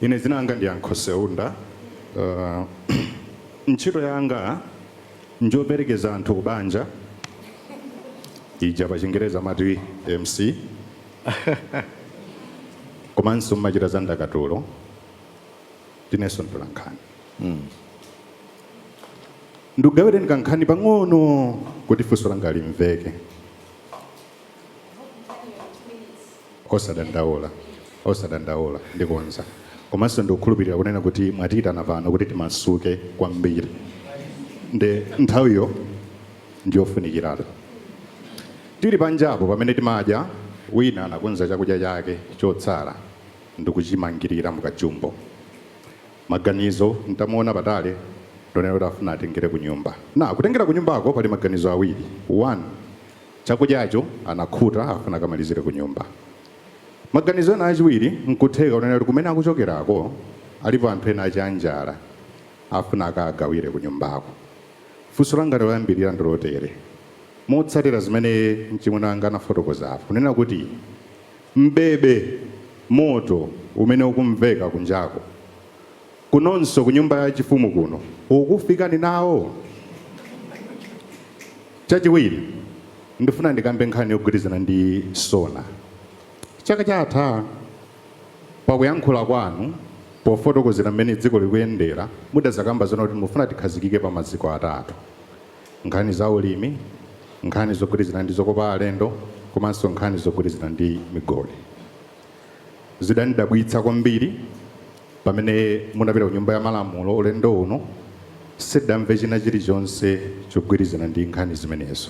Ine dzina langa ndi Yankho Seunda. Ntchito yanga njoperekeza anthu kubanja, ija pachingelezi amati mc, komanso ndimachita za ndakatulo, ndinenso mtolankhani. Ndikugawireni kankhani pang'ono kuti funso langa limveke. osadandaula osadandaula ndikonza komanso ndikukhulupirira kunena kuti mwatiyitana pano kuti timasuke kwambiri nde nthawiyo ndiyofunikiratu tili panjapo pamene timadya wina anakonza chakudya chake chotsala ndikuchimangirira mukajumbo maganizo mutamuona patali ndi onena kuti afuna atengere kunyumba nde kutengera kunyumbako pali maganizo awiri ena chakudyacho, anakhuta, afuna akamalizire kunyumba. Maganizo ena achiwiri nkutheka kunena kuti kumene akuchokerako alipo anthu ena anjala afuna akawagawire kunyumbako. Funso langa loyambirira ndi lotere, motsatira zimene mchimwene wanga anafotokoza apa, kunena kuti mbebe moto umene ukumveka kunjako, Kunonso kunyumba ya chifumu kuno ukufika nawo? Chachiwiri, ndifuna ndikambe nkhani yogwirizana ndi SONA. Chaka chatha pakuyankhula kwanu pofotokozera mmene dziko likuyendera mudazakamba zonena kuti mufuna tikhazikike pa maziko atatu, nkhani za ulimi, nkhani zogwirizana ndi zokopa alendo komanso nkhani zogwirizana ndi migodi. Zidandidabwitsa kwambiri. Pamene munapita ku Nyumba ya Malamulo ulendo uno, sitidamve china chilichonse chogwirizana ndi nkhani zimenezo,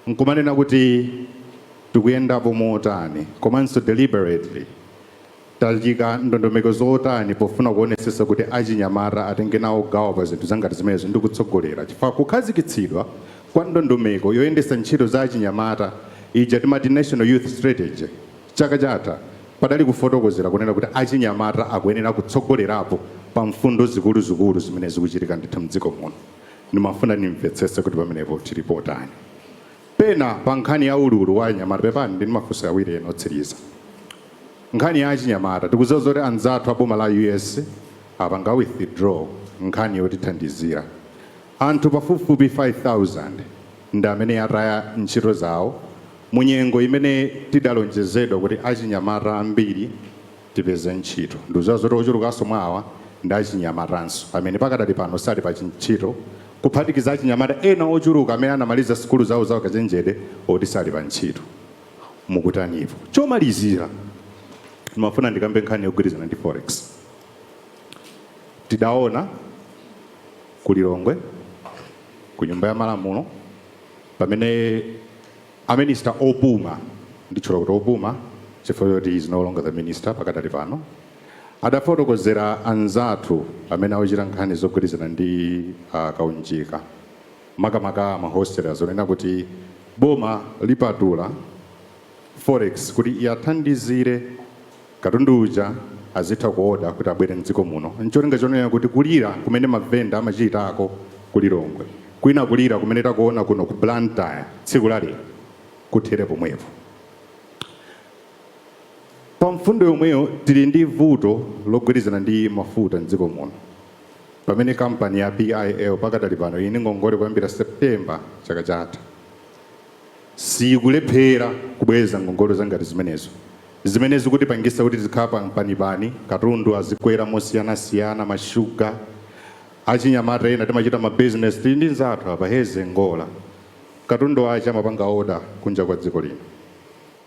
nkumanena kuti tikuyendapo motani komanso deliberately tayika ndondomeko zotani pofuna kuonesesa kuti achinyamata atenge nawo gawo pa zinthu zangati zimenezo ndi kutsogolera, chifukwa kukhazikitsidwa kwa ndondomeko yoyendesa ntchito za achinyamata ija timati National Youth Strategy Chaka chatha, padali kufotokozera kunena kuti achinyamata akuyenera kutsogolerapo pa mfundo zikuluzikulu zimene zikuchitika ndithu mdziko muno. Ndimafuna ndimvetsetse kuti pamenepo tili potani. Pena pa nkhani ya ululu wa achinyamata, pepani ndili ndi mafunso awiri ena otsiriza. Nkhani ya achinyamata, tikudziwa zoti anzathu a boma la US apanga withdraw nkhani yotithandizira. Anthu pafupifupi 5,000 ndi amene ataya ntchito zawo mu nyengo imene tidalonjezedwa kuti achinyamata ambiri tipeze ntchito. Ndikudziwa zoti ochulukanso mwa awa ndi achinyamatanso amene pakadali pano sali pa chintchito kuphatikiza achinyamata ena ochuluka amene anamaliza sukulu zawo za ukachenjede oti sali pa ntchito. Mukutanipo? Chomalizira, ndimafuna ndikambe nkhani yogwirizana ndi Forex. Tidaona. ku Lilongwe ku nyumba ya malamulo pamene a minister opuma ndikutchula kuti opuma chifukwa choti is no longer the minister pakadali pano adafotokozera anzathu amene akuchita nkhani zogwirizana ndi uh, kaunjika makamaka ma wholesale azonena kuti boma lipatula Forex kuti iwathandizire katundu uja azitha kuoda kuti abwere mdziko muno ncholinga chonena kuti kulira kumene ma vendor amachitako ku Lilongwe kwina kulira kumene takuona kuno ku Blantyre tsiku la lero kuthere pomwepo. Pa mfundo yomweyo tili ndi vuto logwirizana ndi mafuta mdziko muno pamene kampani ya PIL pakadali pano ili ndi ngongole kuyambira September chaka chatha. ikulephera kubweza ngongole zangati zimenezo zimene zikutipangisa kuti tizikhala pa mpanipani, katundu azikwera mosiyanasiyana, ma sugar, achinyamata ena timachita ma business tili ndi nzathu apa heze ngola katundu wache amapanga order kunja kwa dziko lino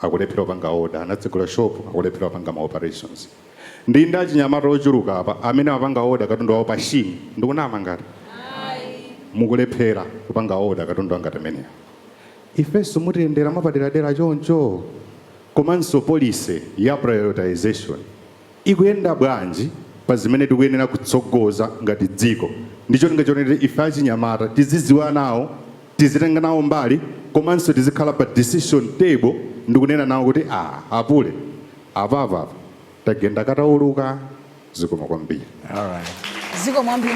akulephera kupanga order, anatsegula shop akulephera kupanga ma operations. Ndili ndi achinyamata ochuluka apa amene amapanga order katundu wawo pa Shein. Ndikunama ngati? Mukulephera kupanga order katundu wangati ameneyo. Ifenso mutiyendera mwapaderadera choncho? Komanso policy ya prioritization ikuyenda bwanji pa zimene tikuyenera kutsogoza ngati dziko ndi cholinga choti ife achinyamata tizidziwa nawo, tizitenga nawo mbali komanso tizikhala pa decision table ndikunena nawo kuti aah apule. Apapa tagenda katauluka zikomo kwambiri. Alright. Zikomo kwambiri.